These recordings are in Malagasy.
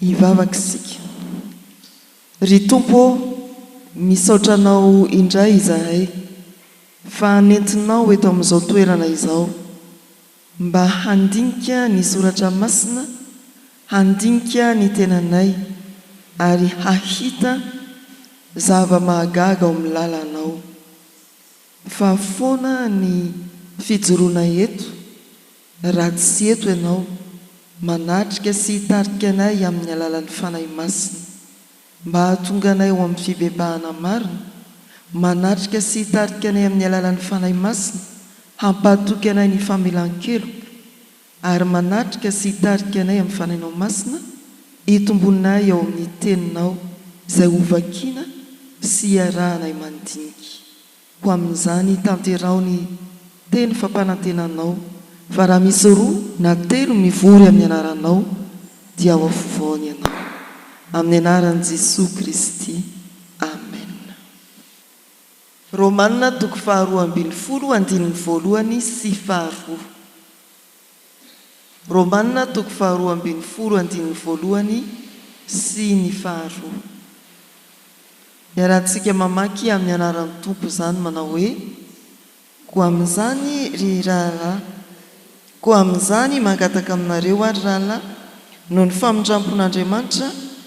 Hivavaka isika. Ry Tompo ô, misaotra Anao indray izahay fa nentinao eto amin'izao toerana izao. Mba handinika ny Soratra Masina, handinika ny tenanay, ary hahita zava-mahagaga ao amin'ny lalanao. Fa foana ny fijoroana eto, raha tsy eto Ianao, manatrika sy hitarika anay amin'ny alalan'ny Fanahy Masina. Mba hahatonga anay ho amin'ny fibebahana marina, manatrika sy hitarika anay amin'ny alalan'ny Fanahy Masina hampahatoky anay ny famelan-keloka, ary manatrika sy hitarika anay amin'ny Fanahinao Masina hitombonay ao amin'ny Teninao izay hovakiana sy hiarahanay mandinika. Ho amin'izany tanteraho ny teny fampanantenanao, fa raha misy roa na telo mivory amin'ny anaranao dia ao afovoany ianao. Amin'ny anaran'i Jesoa Kristy. Amen. Romana toko faharoa ambin'ny folo andininy voalohany sy faharoa. Romana toko faharoa ambin'ny folo andininy voalohany sy ny faharoa. Iarahantsika mamaky amin'ny anaran'ny Tompo izany manao hoe, Koa amin'izany, ry rahalahy, koa amin'izany mangataka aminareo aho, ry rahalahy, noho ny famindrampon'Andriamanitra,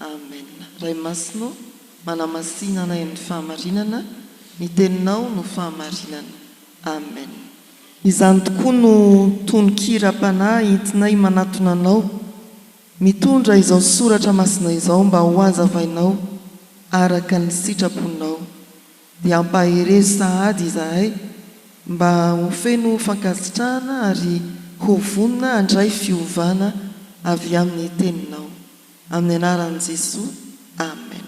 Amen Ray Masina ô, manamasina anay amin'ny fahamarinana, ny teninao no fahamarinana. Amen. Izany tokoa no tononkiram-panahy entinay manatona Anao, mitondra izao soratra masina izao mba ho hazavainao araka ny sitraponao. Dia ampaherezo sahady izahay mba ho feno fankasitrahana ary ho vonona handray fiovana avy amin'ny teninao. Amin'ny anaran'i Jesoa Amen.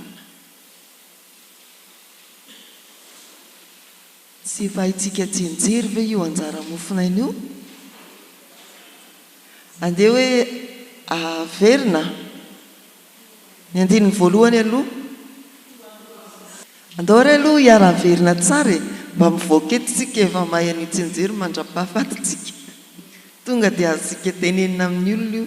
Tsy efa haintsika tsy nijery ve io anjara mofonaina io? Andeha hoe averina ny andininy voalohany aloha. Andao re aloha hiara-haverina tsara e! Mba mivoaka eto isika efa mahay an'io tsy nijery mandrapahafaty tsika. Tonga dia azontsika tenenina amin'ny olona io.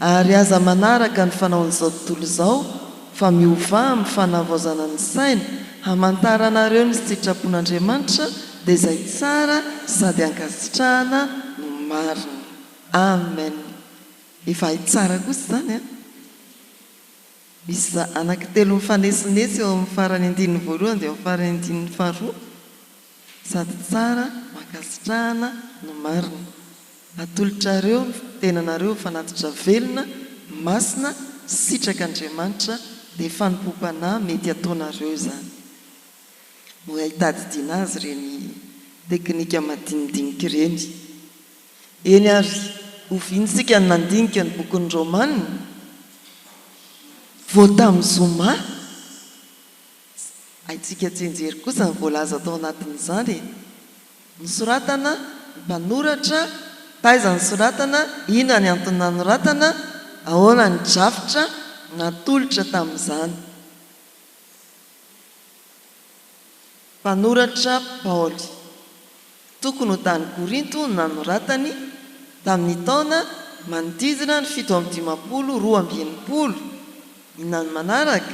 Ary aza manaraka ny fanaon'izao tontolo izao, fa miovà amin'ny fanavaozana ny saina, hamantaranareo ny sitrapon'Andriamanitra, dia izay tsara sady ankasitrahana no marina. Amen. Efa hay tsara kosa izany an! Misy anankitelo mifanesinetsy eo amin'ny faran'ny andininy voalohany dia amin'ny faran'ny andininy faharoa. Sady tsara, mankasitrahana no marina. Atolotrareo ny tenanareo ho fanatitra velona, masina, misitraka Andriamanitra, dia fanompoam-panahy mety ataonareo izany. Mora hitadidiana azy ireny teknika madinidinika ireny. Eny ary, oviana isika no nandinika ny bokin'ny Romana vao tamin'ny zoma? Haintsika tsianjery kosa ny voalaza tao anatin'izany e! Nosoratana, ny mpanoratra, taiza nosoratana, inona ny antony nanoratana, ahoana ny drafitra natolotra tamin'izany. Mpanoratra Paoly. Tokony ho tany Korinto no nanoratany, tamin'ny taona manodidina ny fito amby dimampolo roa amby enimpolo, Inona no manaraka?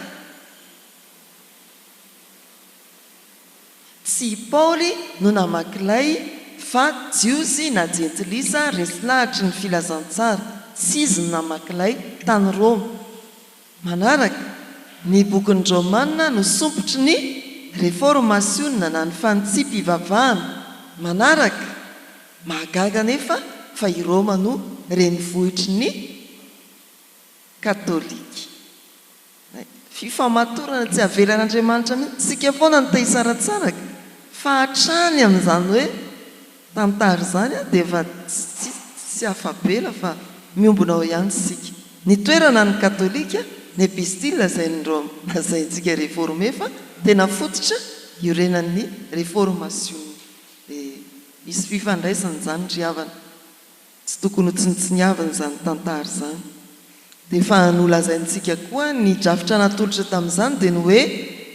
Tsy i Paoly no namaky ilay fa Jiosy na Jentilisa resy lahatry ny Filazantsara. Tsy izy no namaky ilay, tany Roma. Manaraka, ny bokin'ny Romana no sompitry ny Refôrmasiona na ny Fanitsiam-pivavahana. Manaraka, mahagaga anefa fa i Rôma no renivohitry ny Katôlika. Fifamatorana tsy avelan'Andriamanitra mihitsy. Isika foana no te-hisaratsaraka fa hatrany amin'izany hoe. Tantara izany an, dia efa tsy tsy afa-bela fa miombona ao ihany isika. Ny toerana ny katolika, ny epistila izay ny Roma lazaintsika reforme fa tena fototra iorenan'ny reformasiona. Dia misy fifandraisany izany ry havana. Tsy tokony ho tsinontsiniavina izany tantara izany. Dia efa nolazaintsika koa ny drafitra natolotra tamin'izany dia ny hoe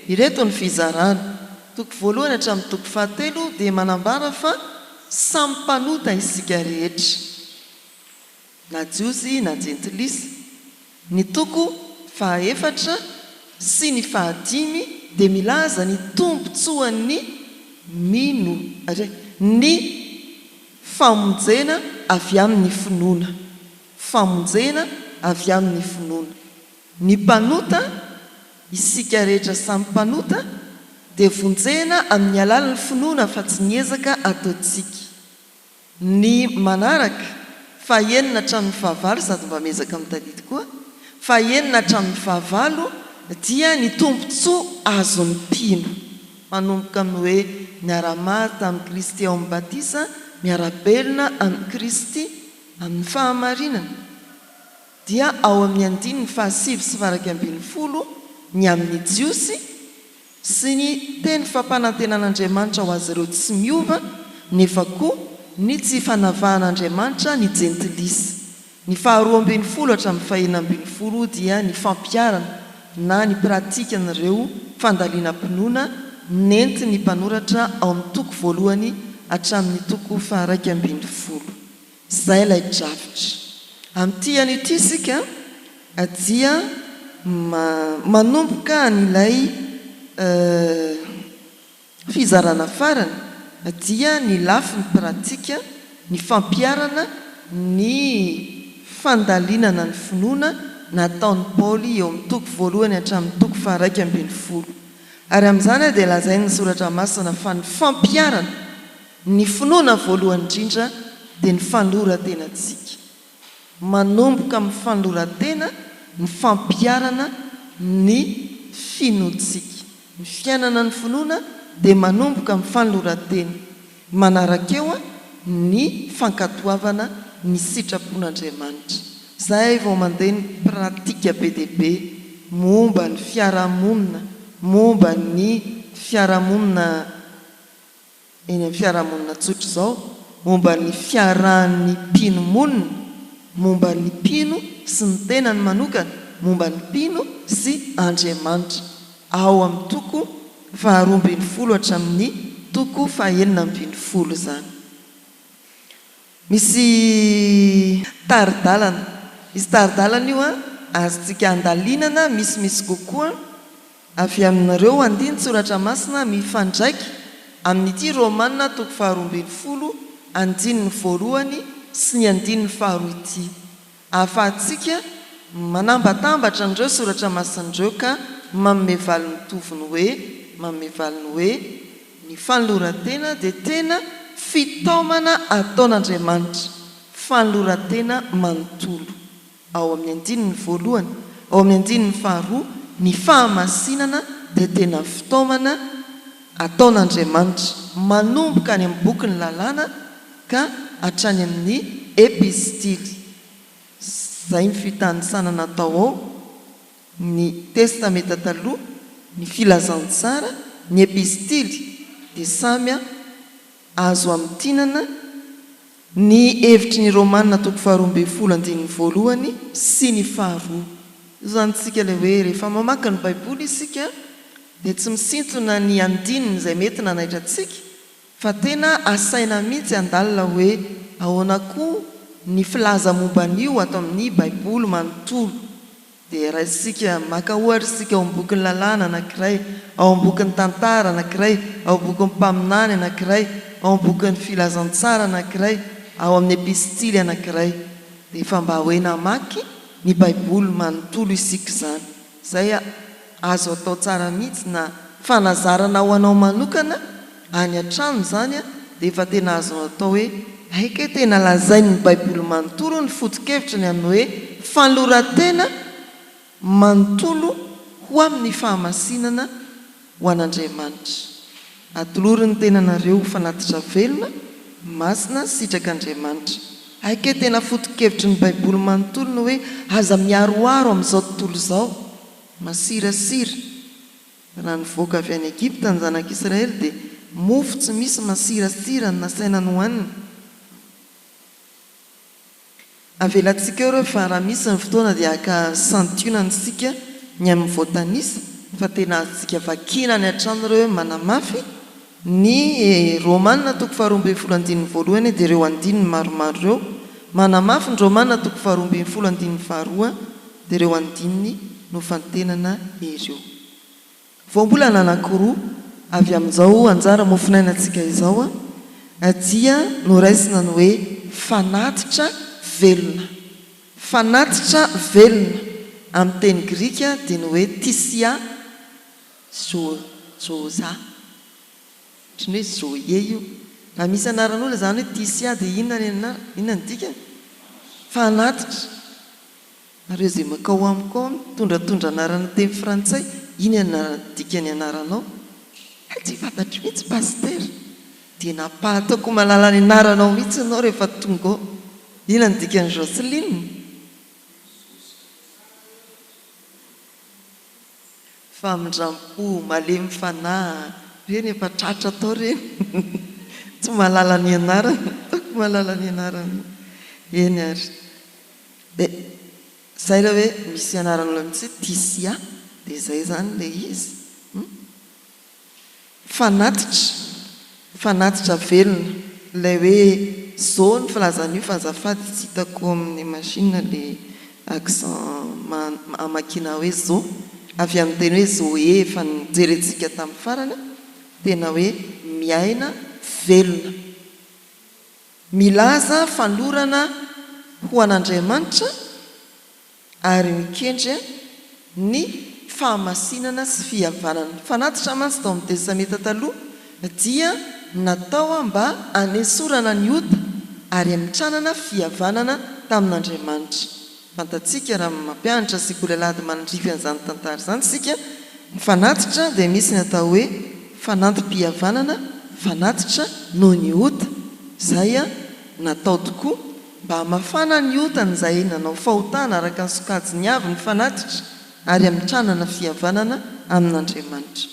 ireto ny fizarana, toko voalohany hatramin'ny toko fahatelo dia manambara fa samy mpanota isika rehetra na jiosy na jentilisa. Ny toko fahaefatra sy ny fahadimy dia milaza ny tombontsoan'ny mino, ary ny famonjena avy amin'ny finoana, famonjena avy amin'ny finoana. Ny mpanota, isika rehetra samy mpanota, dia vonjena amin'ny alalan'ny finoana fa tsy ny ezaka ataontsika. Ny manaraka, fahenina hatramin'ny fahavalo sady mba miezaka mitadidy koa, fahenina hatramin'ny fahavalo dia ny tombontsoa azon'ny mpino, manomboka amin'ny hoe miara-maty tamin'i Kristy ao amin'ny batisa, miara-belona amin'i Kristy amin'ny fahamarinana, dia ao amin'ny andininy fahasivy sy faha-iraika ambin'ny folo ny amin'ny Jiosy, sy ny teny fampanantenan'Andriamanitra ho azy ireo tsy miova, nefa koa ny tsy fanavahan'Andriamanitra ny Jentilisa. Ny faharoa ambin'ny folo hatramin'ny fahenina ambin'ny folo dia ny fampiharana na ny pratikan'ireo fandalinam-pinoana nentin'ny mpanoratra ao amin'ny toko voalohany hatramin'ny toko faha-iraika ambin'ny folo. Izay ilay drafitra. Amin'ity ihany ity isika dia manomboka an'ilay fizarana farany dia ny lafiny pratika, ny fampiharana ny fandalinana ny finoana nataon'i Paoly eo amin'ny toko voalohany hatramin'ny toko faharaika ambin'ny folo. Ary amin'izany dia lazain'ny Soratra Masina fa ny fampiharana Ny finoana voalohany indrindra dia ny fanoran-tenantsika. Manomboka amin'ny fanoran-tena ny fampiharana ny finoantsika. Ny fiainana ny finoana dia manomboka amin'ny fanoran-tena, manaraka eo ny fankatoavana ny sitrapon'Andriamanitra, izay vao mandeha ny pratika be dia be momba ny fiarahamonina, momba ny fiarahamonina eny amin'ny fiarahamonina tsotra izao momba ny fiarahan'ny mpino monina, momba ny mpino sy ny tenany manokana, momba ny mpino sy Andriamanitra, ao amin'ny toko faharoa ambin'ny folo hatramin'ny toko fahenina ambin'ny folo izany. Misy tari-dalana. Misy tari-dalana io an, azontsika andalinana misimisy kokoa avy amin'ireo andinin-tsoratra masina mifandraika amin'ity Romana toko faharoa ambin'ny folo andininy voalohany sy ny andininy faharoa ity. Ahafahantsika manambatambatra an'ireo soratra masina ireo ka manome valiny mitovy ny hoe, manome valiny hoe, Ny fanoloran-tena dia tena fitaomana ataon'Andriamanitra, fanoloran-tena manontolo. Ao amin'ny andininy voalohany, ao amin'ny andininy faharoa, ny fahamasinana dia tena fitaomana ataon'Andriamanitra, manomboka any amin'ny bokin'ny Lalàna, ka hatrany amin'ny Epistily, izay ny fitanisana natao ao, ny Testamenta Taloha, ny Filazantsara, ny Epistily, dia samy azo amintinana ny hevitry ny Romana toko faharoa ambin'ny folo andininy voalohany sy ny faharoa. Io izany isika ilay hoe rehefa mamaky ny Baiboly isika dia tsy misintona ny andininy izay mety nanaitra antsika Fa tena asaina mihitsy handalina hoe ahoana koa ny filaza momba an'io ato amin'ny Baiboly manontolo. Dia raisintsika, maka ohatra isika ao amin'ny bokin'ny Lalàna anankiray, ao amin'ny bokin'ny Tantara anankiray, ao amin'ny bokin'ny Mpaminany anankiray, ao amin'ny bokin'ny Filazantsara anankiray, ao amin'ny Epistily anankiray. Dia efa mba hoe namaky ny Baiboly manontolo isika izany. Zay azo atao tsara mihitsy na fanazarana ho anao manokana any an-trano zany dia efa tena azonao atao hoe hay kay tena lazain'ny baiboly manontolo ny foto-kevitry ny amin'ny hoe fanoloran-tena manontolo ho amin'ny fahamasinana Ho an'Andriamanitra. Atolory ny tenanareo ho fanatitra velona, masina, sitrak'Andriamanitra. Hay kay tena foto-kevitry ny baiboly manontolo ny hoe aza miaroaro amin'izao tontolo izao. Masirasira. Raha nivoaka avy any Egypta ny zanak'Israely dia mofo tsy misy masirasira no nasaina nohanina. Avelantsika eo ireo fa raha misy ny fotoana dia haka santionany isika ny amin'ny voatanisa fa tena azontsika vakiana any an-trano ireo manamafy ny Romana toko faharoa ambin'ny folo andininy voalohany dia ireo andininy maromaro ireo manamafy ny Romana toko faharoa ambin'ny folo andininy faharoa dia ireo andininy nofantenana ireo. Voambolana anankiroa avy amin'izao anjara mofonainantsika izao dia noraisina ny hoe fanatitra velona. Fanatitra velona amin'ny teny grika dia ny hoe tisia zôôza, ohatran'ny hoe zôie io. Raha misy anaran'olona izany hoe tisia dia inona ny anarany? Inona ny dikany? Fanatitra. Nareo izay makao amiko ao mitondratondra anarana teny frantsay iny anarana dikany anaranao hay tsy fantatro mihitsy pasitera dia nampahataoko malala ny anaranao mihitsy ianao rehefa tonga ao ina ny dikany Joceline? Famindrampo, malemy fanahy be ny efa tratra tao re tsy mahalala ny anarany ataoko mahalala ny anarany eny ary de zay le hoe misy anarana mitsy Tisia de zay zany le izy hum. Fanatitra, fanatitra velona, ilay hoe zao ny filazana io fa azafady tsy hitako amin'ny machine ilay accent hamakiana hoe zo, avy amin'ny teny hoe zoé efa nojerentsika tamin'ny farany, tena hoe miaina velona. Milaza fanolorana ho an'Andriamanitra. ary mikendry ny fahamasinana sy fihavanana. Ny fanatitra mantsy tao amin'ny Testamenta Taloha dia natao mba hanesorana ny ota ary hamitranana fihavanana tamin'Andriamanitra. Fantatsika raha mampianatra sekoly alahady manandrify an'izany tantara izany isika, ny fanatitra dia misy ny atao hoe fanantim-pihavanana, fanatitra noho ny ota, izay natao tokoa. Mba hamafana ny otan'izay nanao fahotana araka ny sokajiny avy ny fanatitra ary hamitranana fihavanana amin'Andriamanitra.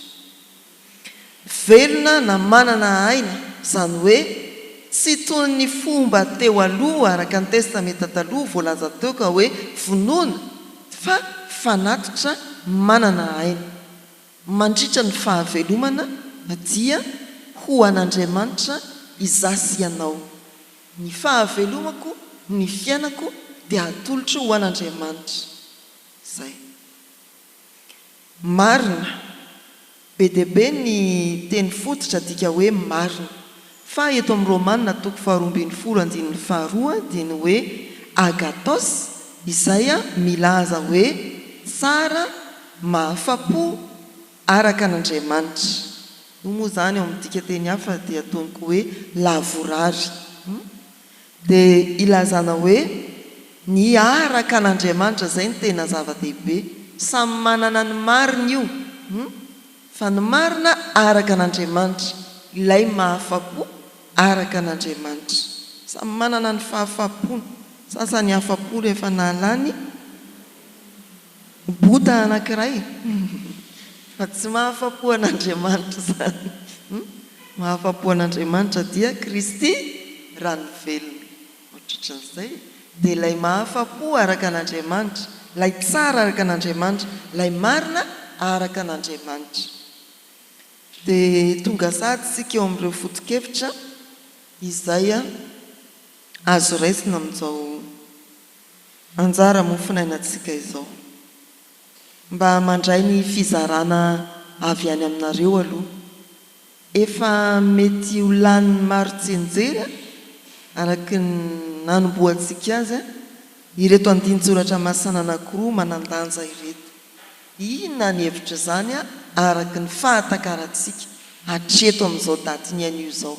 Velona na manana aina, izany hoe tsy toy ny fomba teo aloha araka ny Testamenta Taloha voalaza teo ka hoe vonoina, fa fanatitra manana aina. Mandritra ny fahavelomana dia ho an'Andriamanitra izaho sy ianao. Ny fahavelomako, ny fiainako dia atolotro ho an'Andriamanitra. Izay. Marina. Be dia be ny teny fototra adika hoe marina. Fa eto amin'ny Romana toko faharoa ambin'ny folo andininy faharoa dia ny hoe agathos izay milaza hoe tsara, mahafa-po, Araka an'Andriamanitra. Io moa izany ao amin'ny dikan-teny hafa dia ataony koa hoe lavorary. Dia ilazana hoe ny araka an'Andriamanitra izay no tena zava-dehibe. Samy manana ny mariny io, fa ny marina araka an'Andriamanitra, ilay mahafa-po araka an'Andriamanitra. Samy manana ny fahafa-pony. Sasany afa-po rehefa nahalany. Bouddha anankiray fa tsy mahafapo an'Andriamanitra izany mahafapo an'Andriamanitra dia Kristy raha ny velona otratran'izay dia ilay mahafapo araka an'Andriamanitra ilay tsara araka an'Andriamanitra ilay marina araka an'Andriamanitra dia tonga sahady isika eo amin'ireo fotokevitra izay azo raisina amin'izao Anjara mofonainantsika izao. Mba mandray ny fizarana avy any aminareo aloha. Efa mety ho lanin'ny maro tsianjery, araka ny nanombohantsika azy, ireto andinin-tsoratra masina anankiroa manan-danja ireto. Inona ny hevitr'izany araka ny fahatakarantsika hatreto amin'izao datin'ny anio izao?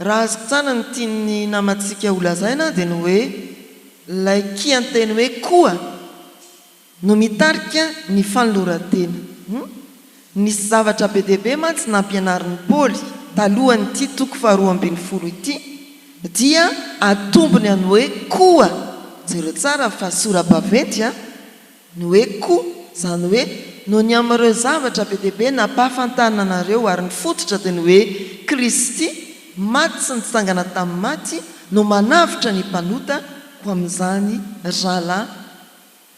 Raha azo tsana ny tian'ny namantsika ho lazaina dia ny hoe ilay kianteny hoe koa no mitarika ny fanoloran-tena. Nisy zavatra be dia be mantsy nampianarin'i Paoly talohan'ity toko faharoa ambin'ny folo ity dia atombony amin'ny hoe koa, jereo tsara fa sora-baventy a! Ny hoe koa, izany hoe, noho ny amin'ireo zavatra be dia be nampahafantarina anareo, ary ny fototra dia ny hoe Kristy maty sy nitsangana tamin'ny maty no manavotra ny mpanota, koa amin'izany rahalahy,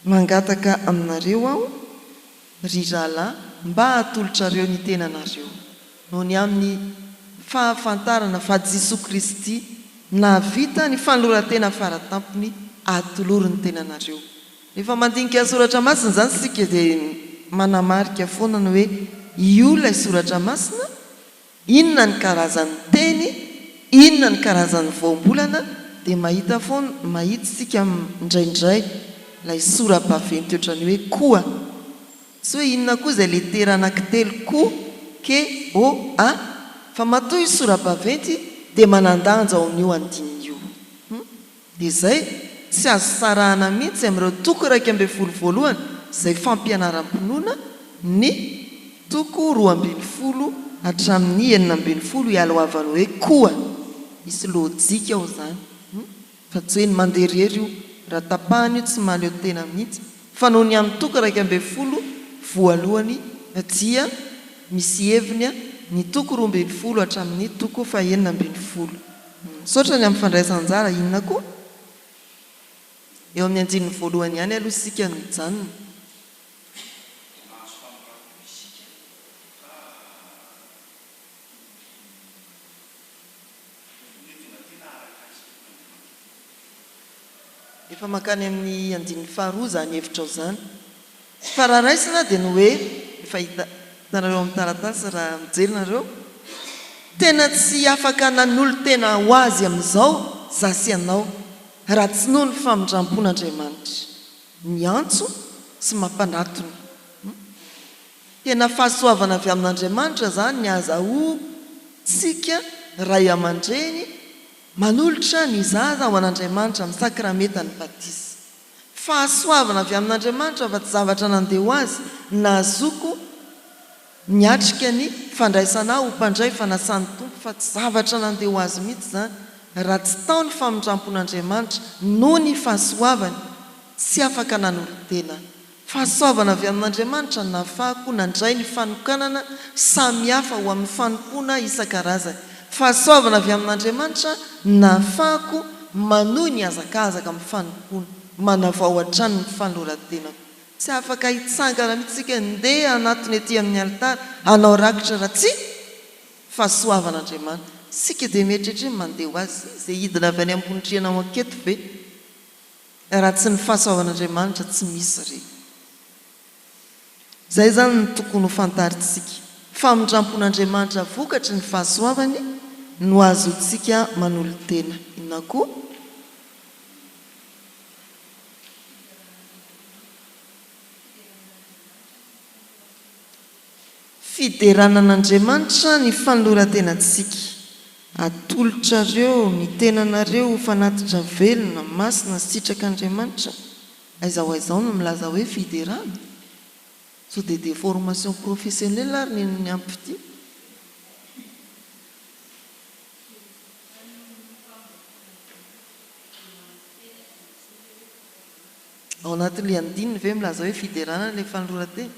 mangataka aminareo aho, ry rahalahy, mba hatolotrareo ny tenanareo, noho ny amin'ny fahafantarana fa Jisoa Kristy nahavita ny fanoloran-tena fara tampony, atolory ny tenanareo. Rehefa mandinika soratra masina izany isika dia manamarika foana ny hoe io ilay soratra masina, inona ny karazan'ny teny, inona ny karazan'ny voambolana dia mahita foana, mahita isika indraindray ilay sora-baventy ohatran'ny hoe koa. Tsy hoe inona koa izay letera anankitelo ko, ke, o, a, fa matoa io sora-baventy dia manan-danja ao amin'io andininy io. Hum. Dia izay, tsy azo sarahana mihitsy amin'ireo toko iraika ambin'ny folo voalohany izay fampianaram-pinoana ny toko roa ambin'ny folo hatramin'ny enina ambin'ny folo ialohavan'ny hoe koa. Misy lojika ao izany hum fa tsy hoe ny mandeha irery io, raha tapahana io tsy mahaleo tena mihitsy fa noho ny amin'ny toko iraika ambin'ny folo voalohany dia misy heviny ny toko roa ambin'ny folo hatramin'ny toko fahenina ambin'ny folo. Misaotra ny amin'ny fandraisan-jara. Inona koa? Eo amin'ny andininy voalohany ihany aloha isika no hijanona. Efa mankany amin'ny andininy faharoa izany hevitrao izany. Tsy fararaisina dia ny hoe, efa hita, hitanareo amin'ny taratasy raha mijery nareo, tena tsy afaka nanolo-tena ho azy amin'izao za sy ianao raha tsy noho ny famindrampon'Andriamanitra miantso sy mampanatona. Tena fahasoavana avy amin'Andriamanitra izany ny ahazahoantsika ray aman-dreny. Manolotra ny zaza ho an'Andriamanitra amin'ny sakramentan'ny batisa. Fahasoavana avy amin'Andriamanitra fa tsy zavatra nandeha ho azy, nahazoako niatrika ny fandraisana ahy ho mpandray fanasan'ny Tompo fa tsy zavatra nandeha ho azy mihitsy izany raha tsy tao ny famindrampon'Andriamanitra noho ny fahasoavany, tsy afaka nanolo-tena Fahasoavana avy amin'Andriamanitra no nahafahako nandray ny fanokanana samy hafa ho amin'ny fanompoana isan-karazany. Fahasoavana avy amin'Andriamanitra no nahafahako manohy ny hazakazaka amin'ny fanompoana. Manavao hatrany ny fanoloran-tenako. Tsy afaka hitsangana mihitsy isika handeha hanatona ety amin'ny alitara, hanao rakitra raha tsy fahasoavan'Andriamanitra. Isika dia mieritreritra hoe mandeha ho Azy izay hidina avy any ambony rihana ho anketo ve? Raha tsy ny fahasoavan'Andriamanitra tsy misy ireny. Izay izany no tokony ho fantarintsika. Famindrampon'Andriamanitra vokatry ny fahasoavany no azontsika manolo-tena. Inona koa? Fiderana an'Andriamanitra ny fanoloran-tenantsika. Atolotrareo ny tenanareo ho fanatitra velona, masina sy sitrak'Andriamanitra. Aiza ho aiza ao no milaza hoe fiderana? Sao dia déformation professionnelle ary ny an'ny ampty? Ao anatin'ilay andininy ve milaza hoe fiderana ilay fanoloran-tena?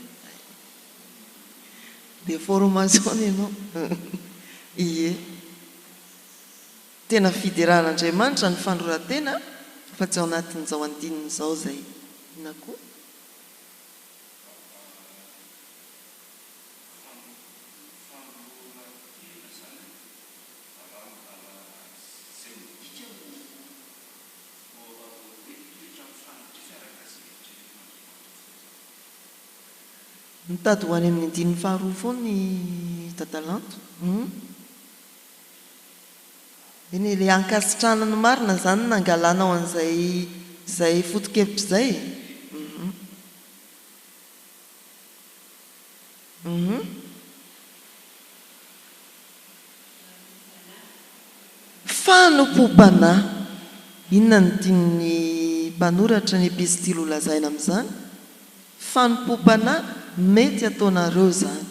Dia formason ianao. Ie. Tena fideran'Andriamanitra ny fanoloran-tena fa tsy ao anatin'izao andininy izao izay. Inona koa? no aovaovao be indrindra amin'ny faritry Fiaragasy eto Trimonimazovato eto Antananarivo. Mitady ho any amin'ny andininy faharoa foana i Dada Lanto humm. Eny e, le ankasitrahana ny marina zany nangalanao an'izay izay foto-kevitra izay e! humm. Fanompoam-panahy. Inona no tian'ny mpanoratra ny epistily holazaina amin'izany? Fanompoam-panahy, mety ataonareo izany.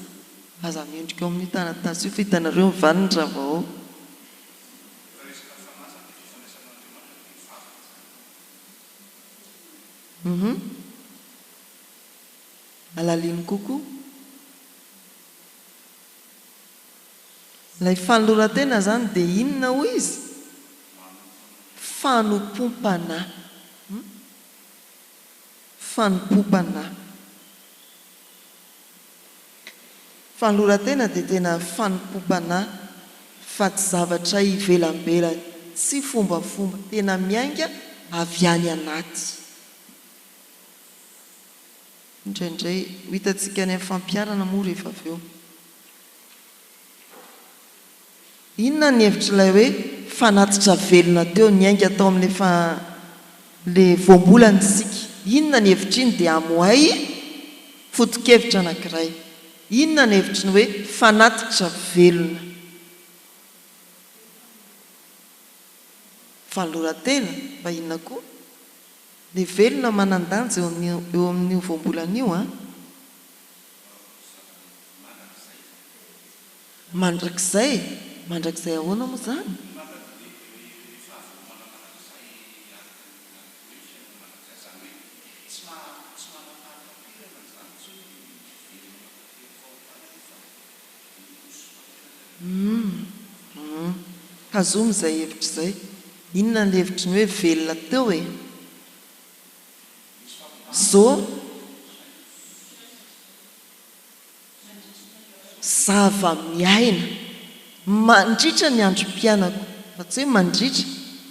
Aza mendrika ao amin'io taratasy io fa hitanareo ny valiny raha vao ao. alalino kokoa. Ilay fanoloran-tena izany dia inona hoy izy? Fanompoam-panahy. Hum? Fanompoam-panahy. Fanoloran-tena dia tena fanompoam-panahy fa tsy zavatra ivelamberany, tsy fombafomba, tena miainga avy any anaty. Indraindray. Ho hitantsika any amin'ny fampiharana moa rehefa avy eo. Inona ny hevitr'ilay hoe fanatitra velona teo? Niainga tao amin'ilay fa ilay voambolana isika. Inona ny hevitr'iny? Dia amohay foto-kevitra anankiray. Inona ny hevitry ny hoe fanatitra velona? Fanoloran-tena? Mba inona koa? Ny velona manan-danja eo amin'ny eo amin'io voambolana io an! Mandrakizay? Mandrakizay ahoana moa izany? Humm tazomy izay hevitra izay. Inona ny hevitry ny hoe velona teo e? Zo zava-miaina mandritra ny androm-piainako, fa tsy hoe mandritra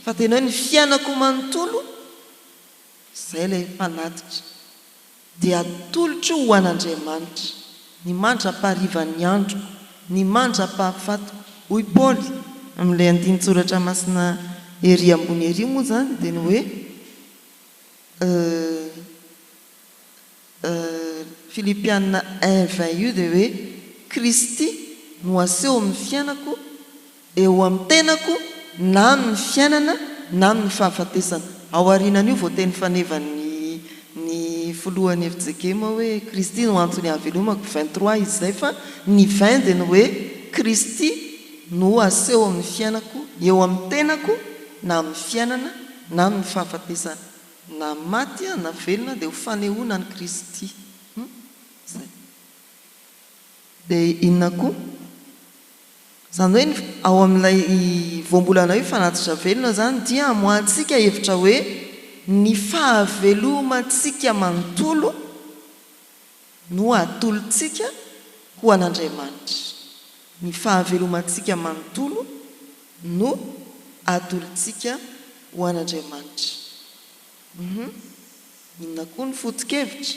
fa tena hoe ny fiainako manontolo, izay ilay mpanatitra. Dia atolotro ho an'Andriamanitra, ny mandra-paharivan'ny androko, ny mandra-pahafatiko. Hoy Paoly, amin'ilay andinin-tsoratra masina ery ambony ery moa izany, dia ny hoe, Filipiana un vingt io dia hoe, Kristy no aseho amin'ny fiainako, eo amin'ny tenako na amin'ny fiainana na amin'ny fahafatesana. Ao aorianan'io voateny fanevan'ny ny filohan'ny FJKM hoe Kristy no antony ahavelomako, vingt trois izy izay fa ny vingt dia ny hoe Kristy no aseho amin'ny fiainako, eo amin'ny tenako na amin'ny fiainana na amin'ny fahafatesana. Na maty aho na velona dia ho fanehoana an'i Kristy. Hum. Izay. Dia inona koa? Izany hoe ny ao amin'ilay voambolana hoe fanatitra velona izany dia amoahantsika hevitra hoe ny fahavelomantsika manontolo no atolotsika ho an'Andriamanitra. Ny fahavelomantsika manontolo no atolotsika ho an'Andriamanitra. Uhum. Inona koa ny foto-kevitra?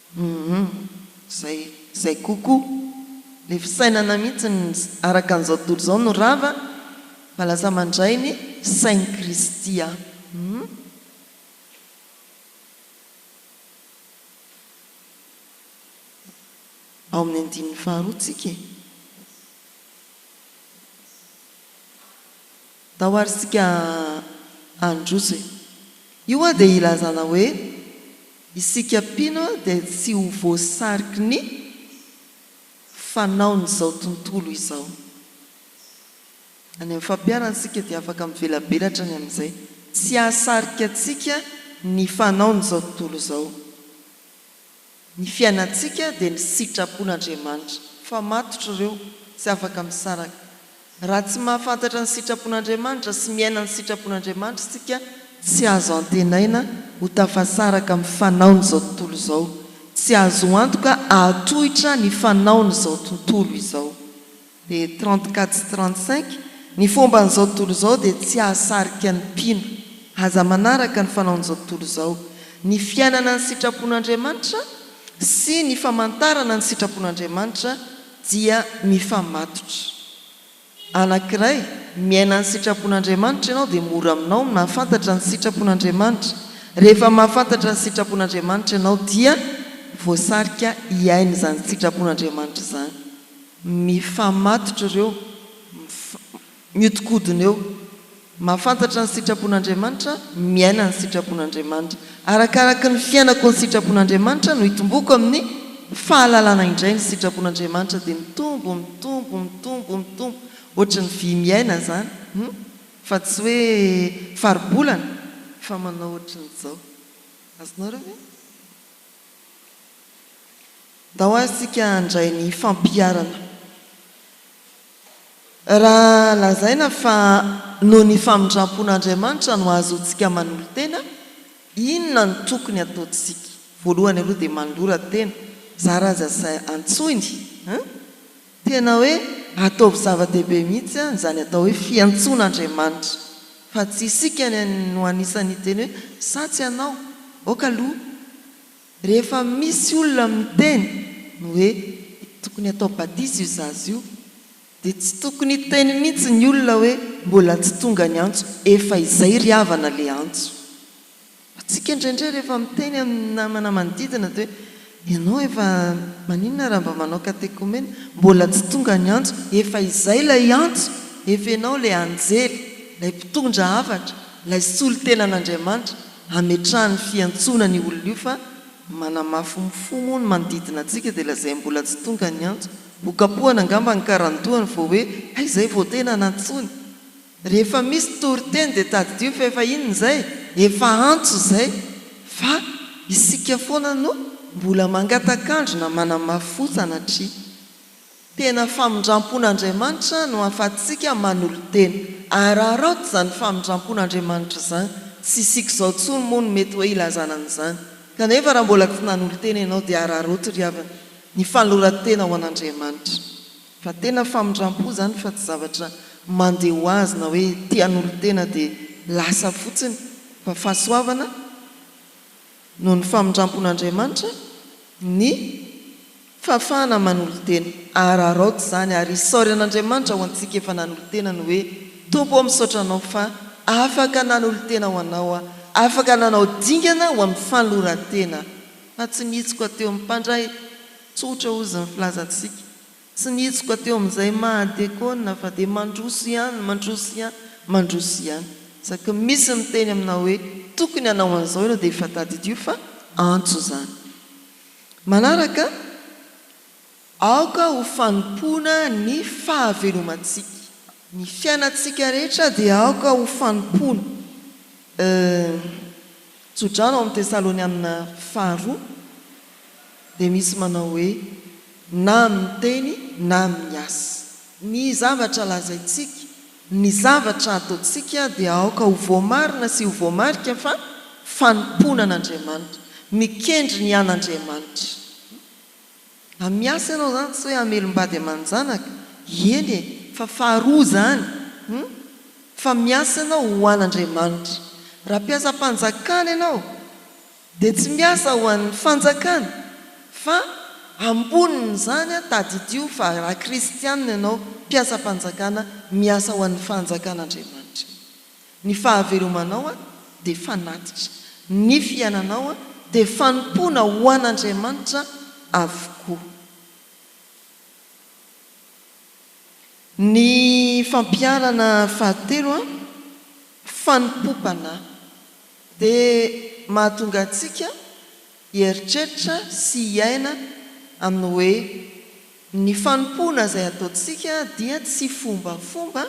Humm zay zay coucou le fisainana mihitsy ny araka an'izao tontolo izao no rava fa lasa mandray ny sain'i Kristy aho humm. Ao amin'ny andininy faharoa tsika e. Ndao ary isika handroso e! Io hoa dia ilazana hoe isika mpino dia tsy ho voasariky ny fanaon'izao tontolo izao. Any amin'ny fampiharana isika dia afaka mivelabelatra ny amin'izay tsy hahasarika antsika ny fanaon'izao tontolo izao. Ny fiainantsika dia ny sitrapon'Andriamanitra, fa matotra ireo, tsy afaka misaraka. Raha tsy mahafantatra ny sitrapon'Andriamanitra sy miaina ny sitrapon'Andriamanitra isika, tsy azo antenaina ho tafasaraka amin'ny fanaon'izao tontolo izao, tsy azo antoka hahatohitra ny fanaon'izao tontolo izao. dia trente quatre sy trente cinq, ny fomban'izao tontolo izao dia tsy hahasarika ny mpino. Aza manaraka ny fanaon'izao tontolo izao. Ny fiainana ny sitrapon'Andriamanitra sy ny famantarana ny sitrapon'Andriamanitra dia mifamatotra. Anankiray, miaina ny sitrapon'Andriamanitra ianao dia mora aminao ny mahafantatra ny sitrapon'Andriamanitra. Rehefa mahafantatra ny sitrapon'Andriamanitra ianao dia voasarika hiaina izany sitrapon'Andriamanitra izany. Mifamatotra ireo, mihodinkodina eo. Mahafantatra ny sitrapon'Andriamanitra, miaina ny sitrapon'Andriamanitra. Arakaraka ny fiainako ny sitrapon'Andriamanitra no itomboako amin'ny fahalalana indray ny sitrapon'Andriamanitra dia mitombo, mitombo, mitombo, mitombo. Ohatry ny vy miaina izany hum fa tsy hoe faribolana fa manao ohatry ny izao. Azonareo ve? Ndao ary isika handray ny fampiharana. Raha lazaina fa noho ny famindrampon'Andriamanitra no ahazoantsika manolo-tena, inona no tokony hataontsika? Voalohany aloha dia manolora tena, zara aza sy antsoiny, hein? Tena hoe ataovy zava-dehibe mihitsy an izany atao hoe fiantsoana Andriamanitra fa tsy isika no anisan'ny hiteny hoe sa tsy anao? aoka aloha rehefa misy olona miteny ny hoe tokony atao batisa io zaza io dia tsy tokony hiteny mihitsy ny olona hoe mbola tsy tonga ny antso efa izay ry havana le antso Antsika indraindray rehefa miteny amin'ny namana manodidina dia hoe, ianao efa maninona raha mba manao katekomena? Mbola tsy tonga ny antso? Efa izay ilay antso! Efa ianao ilay anjely, ilay mpitondra hafatra, ilay solontenan'Andriamanitra hametrahany fiantsoana an'io olona io fa manamafy mifo moa ny manodidina antsika dia lazainy mbola tsy tonga ny antso. Nokapohana angamba ny karandohany vao hoe hay izay vao tena nantsoiny! Rehefa misy toriteny dia tadidio fa efa inona izay? Efa antso izay fa isika foana no mbola mangatak'andro na manamafy fo sanatria. Tena famindrampon'Andriamanitra no ahafahantsika manolo-tena. Araraoty izany famindrampon'Andriamanitra izany. Tsy isika izao intsony moa no mety hoe ilazana an'izany. Kanefa raha mbola tsy nanolo-tena ianao dia araraoty ry havana ny fanoloran-tena ho an'Andriamanitra. Fa tena famindrampo zany fa tsy zavatra mande ho azy na hoe tian'olon-tena de lasa fotsiny fa fahasoavana noho ny famindrampon'Andriamanitra ny fahafahana manolo-tena. Araraoty zany ary isaory an'Andriamanitra ho antsika efa nanolo-tena ny hoe Tompo o misaotra anao fa afaka nanolo-tena ho anao aho, afaka nanao dingana ho amin'ny fanoloran-tena fa tsy nihitsoka teo amin'ny mpandray. Tsotra hozy ny filazantsika. Tsy nihitsoka teo amin'izay maha diakona fa dia mandroso ihany, mandroso ihany, mandroso ihany. Isaky ny misy miteny aminao hoe tokony hanao an'izao ianao dia efa tadidio fa antso izany. Manaraka, aoka ho fanompoana ny fahavelomantsika. Ny fiainantsika rehetra dia aoka ho fanompoana. Euh. Tso-drano ao amin'ny Tesalonianina Faharoa. dia misy manao hoe, na amin'ny teny na amin'ny asa. Ny zavatra lazaintsika, ny zavatra ataontsika dia aoka ho voamarina sy ho voamarika fa fanompoana an'Andriamanitra, mikendry ny an'Andriamanitra. Mba miasa ianao izany tsy hoe hamelom-bady aman-janaka, eny e, fa faharoa izany, fa miasa ianao ho an'Andriamanitra. Raha mpiasam-panjakana ianao, Dia tsy miasa ho an'ny fanjakana, fa ambonin'izany an, tadidio fa raha kristianina ianao, mpiasam-panjakana, miasa ho an'ny fanjakan'Andriamanitra ianao. Ny fahavelomanao an, dia fanatitra. Ny fiainanao an, dia fanompoana ho an'Andriamanitra avokoa. Ny fampiharana fahatelo an, fanompoam-panahy. Dia mahatonga antsika hieritreritra sy hiaina amin'ny hoe ny fanompoana izay ataontsika dia tsy fombafomba,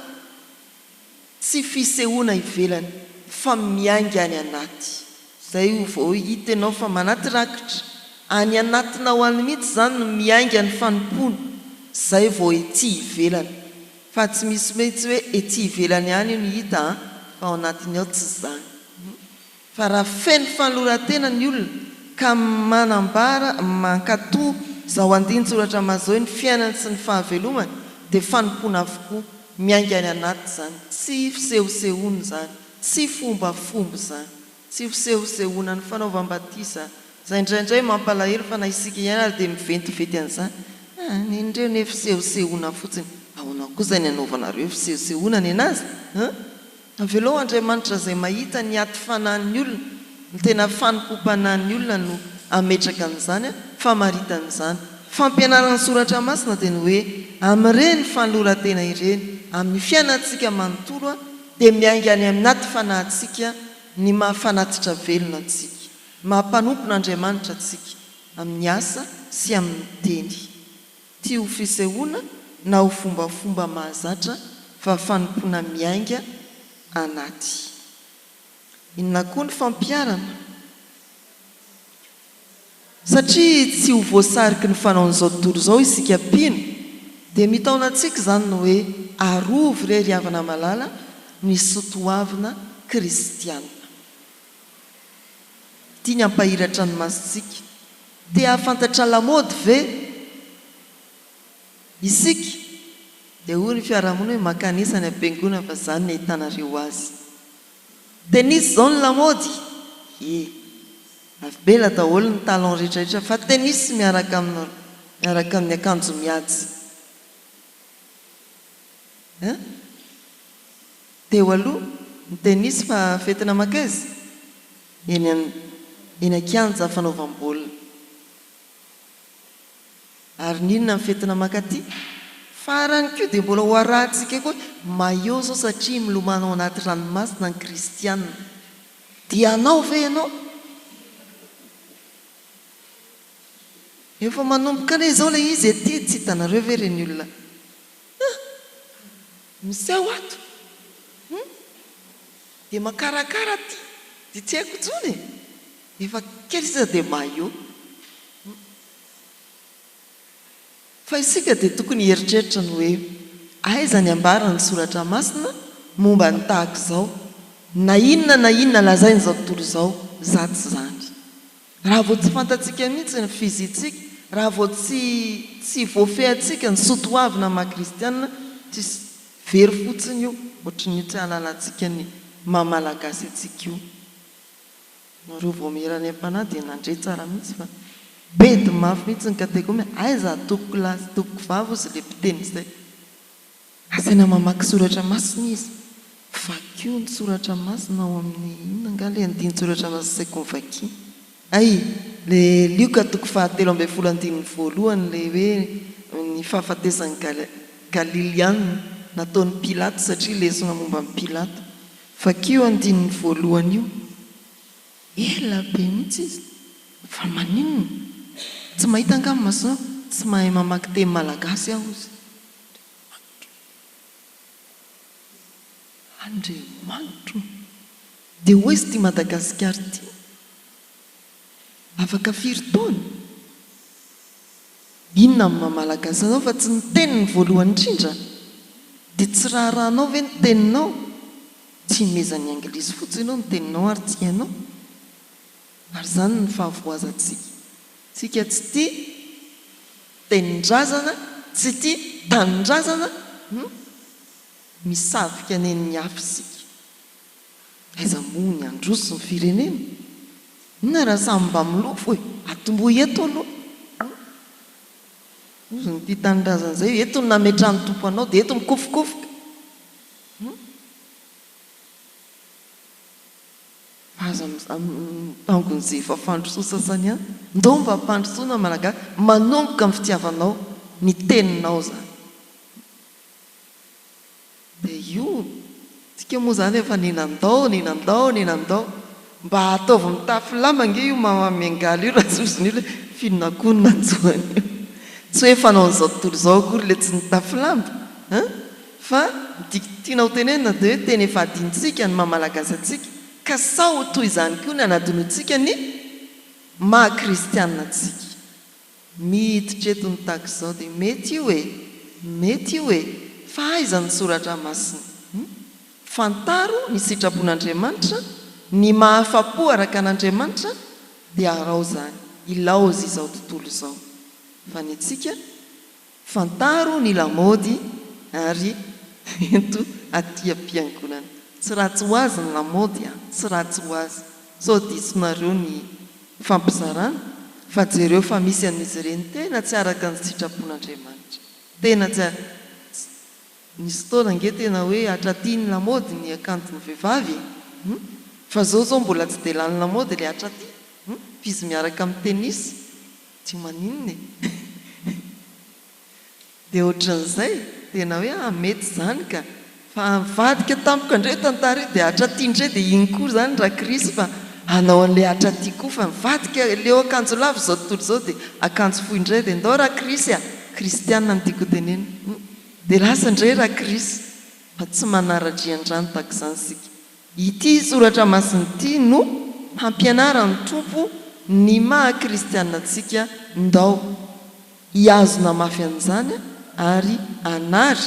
tsy fisehoana ivelany fa miainga any anaty. Izay vao hita ianao fa manaty rakitra, any anatinao any mihitsy izany no miainga ny fanompoana, izay vao ety ivelany. Fa tsy misy mitsy hoe ety ivelany ihany io no hita an, fa ao anatiny ao tsy zany. Fa raha feno fanolorantena ny olona ka manambara mankato zao andinin-tsoratra mazao ny fiainany sy ny fahavelomany dia fanompoana avokoa, miainga any anaty zany, tsy fisehosehoana zany, tsy fombafomba zany. Tsy fisehosehoana ny fanaovam-batisa izay indraindray mampalahelo fa na isika ihany ary dia miventiventy an'izany. Ah, nen'ireo anie fisehosehoana fotsiny. Ahoana kosa ny anaovanareo fisehosehoana nenazy an? Avelao Andriamanitra izay mahita ny aty fanahin'ny olona, ny tena fanompoam-panahin'ny olona no hametraka an'izany an, famaritana izany. Fampianaran'ny Soratra Masina dia ny hoe amin'ireny fanoloran-tena ireny amin'ny fiainantsika manontolo an, dia miainga any anaty fanahintsika ny maha fanatitra velona antsika, maha mpanompon' Andriamanitra antsika amin'ny asa sy amin'ny teny. Tsy ho fisehoana na ho fombafomba mahazatra fa fanompoana miainga anaty. Inona koa ny fampiharana? Satria tsy ho voasariky ny fanaon'izao tontolo izao isika mpino, dia mitaona antsika izany ny hoe, Arovy re ry havana malala ny soatoavina kristianina. Tiany hampahiratra ny masontsika. Te hahafantatra lamaody ve isika? Dia hoy ny fiarahamonina hoe, Makanisa any am-piangonana fa izany no ahitanareo azy. Dia nisy izao ny lamaody, ie, navela daholo ny talon rehetrarehetra fa tennis miaraka miaraka amin'ny akanjo mihaja hein. Teo aloha ny tennis fa fety namakaiza? Eny an, eny an-kianja fanaovam-baolina. Ary ny inona ny fetina mankaty? Farany koa dia mbola ho arahintsika koa ny maillot izao satria milomano ao anaty ranomasina ny kristiana. Dia hanao ve ianao? Efa manomboka anie izao ilay izy ety, tsy hitanareo ve ireny olona ah! miseho ato hum! dia makarakara aty, dia tsy haiko intsony e! efa kely sisa dia maillot. Fa isika dia tokony hieritreritra ny hoe, Aiza ny ambaran'ny Soratra Masina momba ny tahaka izao? Na inona na inona lazain'izao tontolo izao, zato izany. Raha vao tsy fantatsika mihitsy ny fizintsika, raha vao tsy tsy voafehintsika ny soa toavina maha kristiana, tsisy, very fotsiny io, ohatry ny tsy ahalalantsika ny maha malagasy antsika io. Nareo vaomiera any ampanahy dia nandre tsara mihitsy fa bedy mafy mihitsy ny kategomia aiza tompoko lahy sy tompoko vavy ozy le mpiteny izay. Asaina mamaky soratra masina izy. Vakio ny soratra masina ao amin'ny inona angaha ilay andinin-tsoratra masina saiko ny vakiana. Hay, le Lioka toko faha telo ambin'ny folo andininy voalohany ilay hoe ny fahafatesan'i Galiliana nataon'i Pilato satria lesona momba an'i Pilato. Vakio andininy voalohany io. Ela be mihitsy izy fa maninona? Tsy mahita angamba ma sa tsy mahay mamaky teny malagasy aho hozy? Andriamanitro! Andriamanitro! Dia hoy izy ity Madagasikara ity. Afaka firy taona? Inona amin'ny maha malagasy anao fa tsy ny teniny voalohany indrindra? Dia tsy raharahanao ve ny teninao? Tsy himezan'ny anglisy fotsiny ianao ny teninao ary tsy hainao? Ary izany ny fahavoazantsika. Tsika tsy tia tenin-drazana, tsy tia tanindrazana, misavika nen'ny hafa isika. Aiza moa ny handroso ny firenena? Inona raha samy mba milofo e? Atombohy eto aloha an! Hozy ny tia tanindrazana izay, eto no nametrahan'ny Tompo anao dia eto mikofokofoka an! Fa aza mitangon'izay efa fandrosoa sasany ihany. Ndao mba ampandrosoana ny Malagasy, manomboka amin'ny fitiavanao ny teninao izany. Dia io, tsika moa zany efa nenandao, nenandao, nenandao. Mba ataovy mitafy lamba ange io mama miangaly io raha zozo ny olona e, f'inona koa no nanjo an'io? Tsy hoe fanaon'izao tontolo izao akory ilay tsy nitafy lamba an! Fa ny tiako tiana ho tenenina dia hoe tena efa adinontsika ny maha malagasy antsika ka sao ho toy izany koa ny hanadinoantsika ny maha kristianina antsika. Miditra eto ny tahaka izao dia mety io e! Mety io e! Fa aiza ny Soratra Masina? Hum? Fantaro ny sitrapon'Andriamanitra, ny maha-afa-po araka an'Andriamanitra, dia arao izany, ilaozy izao tontolo izao. Fa ny antsika? Fantaro ny lamaody ary ento aty am-piangonana. Tsy ratsy ho azy ny lamaody a! Tsy ratsy ho azy. Sao diso nareo ny fampizarana? Fa jereo fa misy amin'izy ireny tena tsy araka ny sitrapon'Andriamanitra. Tena tsy ar. Nisy fotoana ange tena hoe hatraty ny lamaody ny akanjon'ny vehivavy e! Hum! Fa zao zao mbola tsy dia lany lamaody le hatraty. Hum! F'izy miaraka amin'ny tennis. Tsy maninona e! Dia ohatran'izay, tena hoe ah mety izany ka! Fa nivadika tamiko kandreo io tantara io dia hatraty ndray dia iny koa izany Rakrisy fa hanao an'ilay hatraty koa fa nivadika leo akanjo lava izao tontolo izao dia akanjo fohy ndray dia ndao Rakrisy a! Kristiana no tiako hotenenina hum! Dia lasa ndray Rakrisy fa tsy manara-drian-drano tahaka izany isika Ity soratra masina ity no hampianaran'ny Tompo ny maha kristiana antsika, ndao hihazona mafy an'izany ary hanary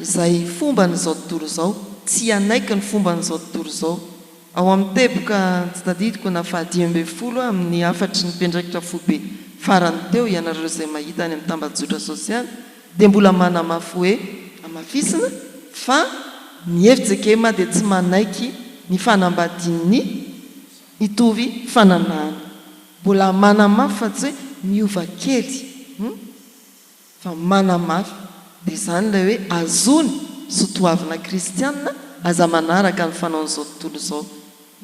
izay fomban'izao tontolo izao, tsy hanaiky ny fomban'izao tontolo izao. Ao amin'ny teboka tsy tadidiko na fahadimy ambin'ny folo amin'ny hafatry ny mpiandraikitra foibe farany teo, ianareo izay mahita any amin'ny tambajotra sosialy, dia mbola manamafy hoe hamafisina fa ny FJKM dia tsy manaiky ny fanambadian'ny mitovy fananahana. Mbola manamafy fa tsy hoe miova kely humm fa manamafy dia izany ilay hoe azony sotoavina kristianina aza manaraka ny fanaon'izao tontolo izao.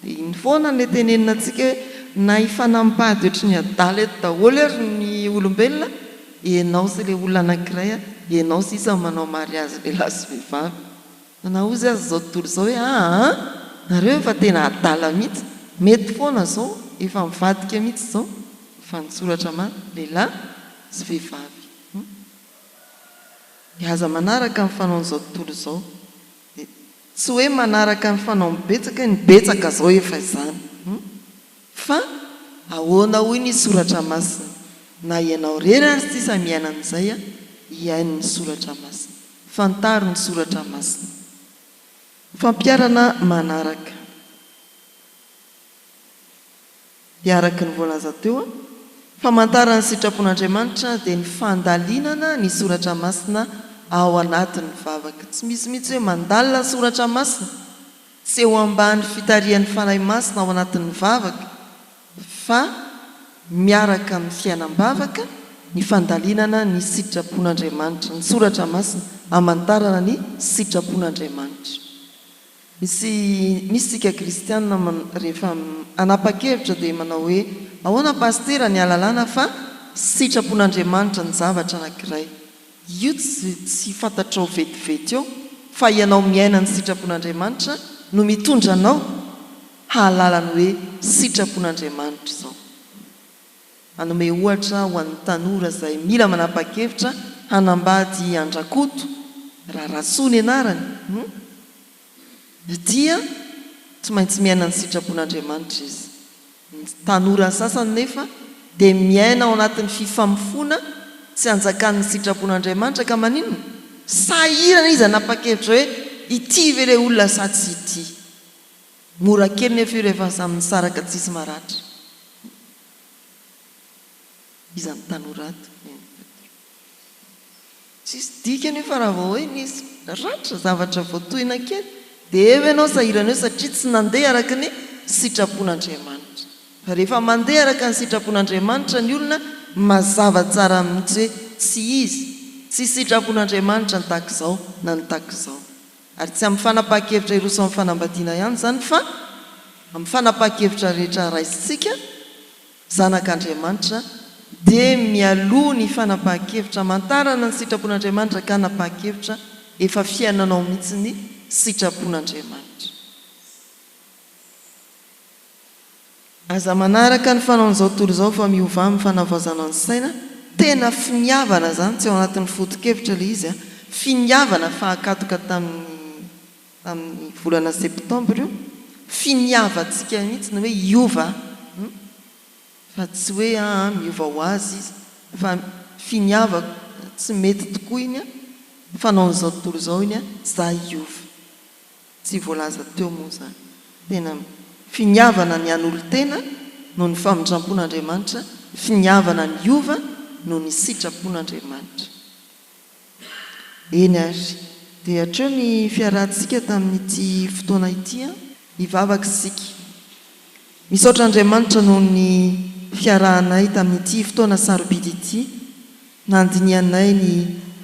Dia iny foana ilay tenenina antsika hoe na hifanam-bady ohatry ny adala eto daholo ary ny olombelona, ianao sy ilay olona anankiray, ianao sisa no manao mariazy lehilahy sy vehivavy. Fa na hozy aza izao tontolo izao hoe aa a, nareo efa tena adala mihitsy, mety foana izao, efa mivadika mihitsy izao, efa nitsoratra maty, lehilahy sy vehivavy. Dia aza manaraka ny fanaon'izao tontolo izao. Tsy hoe manaraka ny fanaon'ny betsaka ny betsaka zao efa izany fa ahoana hoy ny soratra masina na ianao rery ary sisa miaina amin'izay a hihaino ny soratra masina fantaro ny soratra masina fampiarana manaraka. dia araka ny voalaza teo, famantaran'ny sitrapon'Andriamanitra dia ny fandalinana ny soratra masina ao anatin'ny vavaka. Tsy misy mihitsy hoe mandalina ny soratra masina sy eo ambany fitarihan'ny Fanahy Masina ao anatin'ny vavaka, fa miaraka amin'ny fiainam-bavaka ny fandalinana ny sitrapon'Andriamanitra. Ny soratra masina hamantarana ny sitrapon'Andriamanitra. Misy misy tsika kristianina man rehefa hanapa-kevitra dia manao hoe ahoana pasitera ny ahalalana fa sitrapon'Andriamanitra ny zavatra anankiray. Io tsy tsy fantatrao vetivety eo fa ianao miaina ny sitrapon'Andriamanitra no mitondra anao hahalala ny hoe sitrapon'Andriamanitra izao. Hanome ohatra ho an'ny tanora izay mila manapa-kevitra hanambady an-dRakoto Rarasoa ny anarany, humm, dia tsy maintsy miaina ny sitrapon'Andriamanitra izy. Ny tanora sasany nefa dia miaina ao anatin'ny fifamofoana tsy anjakan'ny sitrapon'Andriamanitra ka maninona? Sahirana izy hanapa-kevitra hoe ity ve ilay olona sa tsy ity? Mora kely nefa io rehefa samy nisaraka tsisy maratra iza ny tanora ato neny patron. Tsisy dikany io fa raha vao hoe nisy ratra zavatra vao tohina kely dia eo ianao sahirana eo satria tsy nandeha araka ny sitrapon'Andriamanitra. Fa rehefa mandeha araka ny sitrapon'Andriamanitra ny olona mazava tsara mihitsy hoe tsy izy, tsy sitrapon'Andriamanitra ny takizao na ny takizao. Ary tsy amin'ny fanapahan-kevitra hiroso amin'ny fanambadiana ihany izany fa amin'ny fanapahan-kevitra rehetra raisintsika zanak'Andriamanitra dia mialoha ny fanapahan-kevitra hamantarana ny sitrapon'Andriamanitra ka hanapahan-kevitra efa fiainanao mihitsy ny sitrapon'Andriamanitra. Aza manaraka ny fanaon'izao tontolo izao fa miovà amin'ny fanavaozana ny saina, tena finiavana izany tsy ao anatin'ny foto-kevitra ilay izy a, finiavana fahakatoka tamin'ny tamin'ny volana septembre io, finiavantsika mihitsy ny hoe hiova an, fa tsy hoe aa miova ho azy izy fa finiavako tsy mety tokoa iny an, fanaon'izao tontolo izao iny an, za hiova. Tsy voalaza teo moa izany. Tena finiavana ny hanolotena noho ny famindrampon'Andriamanitra, finiavana ny hiova noho ny sitrapon'Andriamanitra. Eny ary dia hatreo ny fiarahantsika tamin'ity fotoana ity an! Hivavaka isika. Misaotra Andriamanitra noho ny fiarahanay tamin'ity fotoana sarobidy ity, nandinihanay ny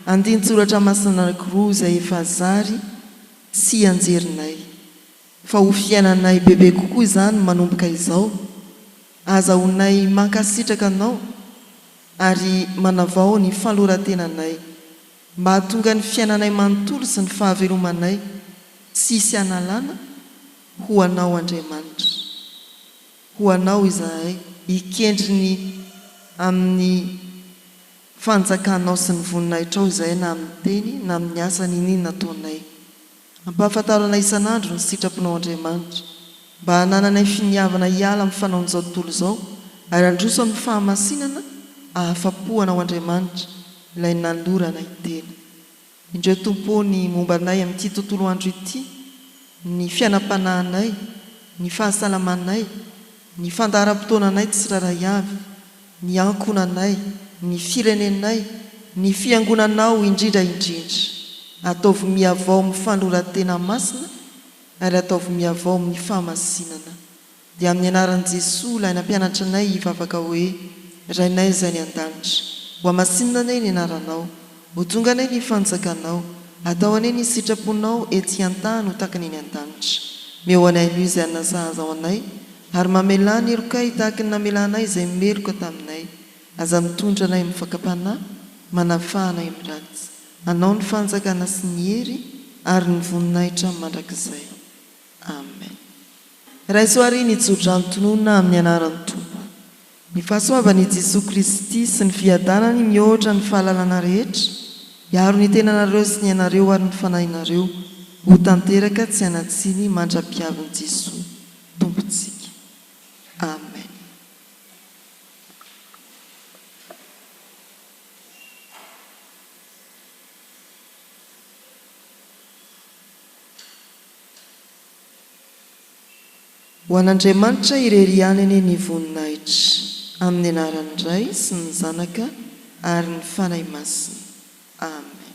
andinin-tsoratra masina anankiroa izay efa zary, Tsy hianjerinay. Fa ho fiainanay bebe kokoa izany manomboka izao. Ahazahoanay mankasitraka Anao ary manavao ny fanoran-tenanay, mba hahatonga ny fiainanay manontolo sy ny fahavelomanay tsy hisy analana, ho Anao Andriamanitra. Ho Anao izahay. Ikendry ny amin'ny Fanjakanao sy ny voninahitrao izahay na amin'ny teny na amin'ny asa n'in'inona ataonay. Ampahafantaro anay isan'andro ny sitraponao Andriamanitra, mba hanananay finiavana hiala amin'ny fanaon'izao tontolo izao ary handroso amin'ny fahamasinana ahafa-po anao Andriamanitra, ilay nanolorana i Tena. Indreo Tompo o ny momba anay amin'ity tontolo andro ity, ny fiainam-panahinay, ny fahasalamanay, ny fandaharam-potoananay tsirairay avy, ny ankohonanay, ny firenenay, ny fiangonanao indrindra indrindra. Ataovy mihavao amin'ny fanoloran-tena masina ary ataovy mihavao amin'ny fahamasinana. Dia amin'ny anaran'i Jesoa ilay nampianatra anay hivavaka hoe, Rainay izay any an-danitra. Ho hamasinina anay ny anaranao. Ho tonga anay ny fanjakanao. Atao anay ny sitraponao ety an-tany ho takany eny an-danitra. Meo anay anio izay hanina sahaza ho anay, ary mamelà ny helokay tahaka ny namelanay izay meloka taminay. Aza mitondra anay amin'ny fakam-panahy, manafaha anay amin'ny ratsy. Anao ny fanjakana sy ny hery ary ny voninahitra mandrakizay. Amen Raiso ary ny jodrano tononina amin'ny anaran'ny Tompo. Ny fahasoavan' i Jesoa Kristy sy ny fiadanany mihoatra ny fahalalana rehetra hiaro ny tenanareo sy ny anareo ary ny fanahinareo ho tanteraka tsy hanatsiny mandra-piavin'i Jesoa Tompontsika. Amen. Ho an'Andriamanitra irery ihany anie ny voninahitra, amin'ny anaran'ny Ray sy ny Zanaka ary ny Fanahy Masina. Amen.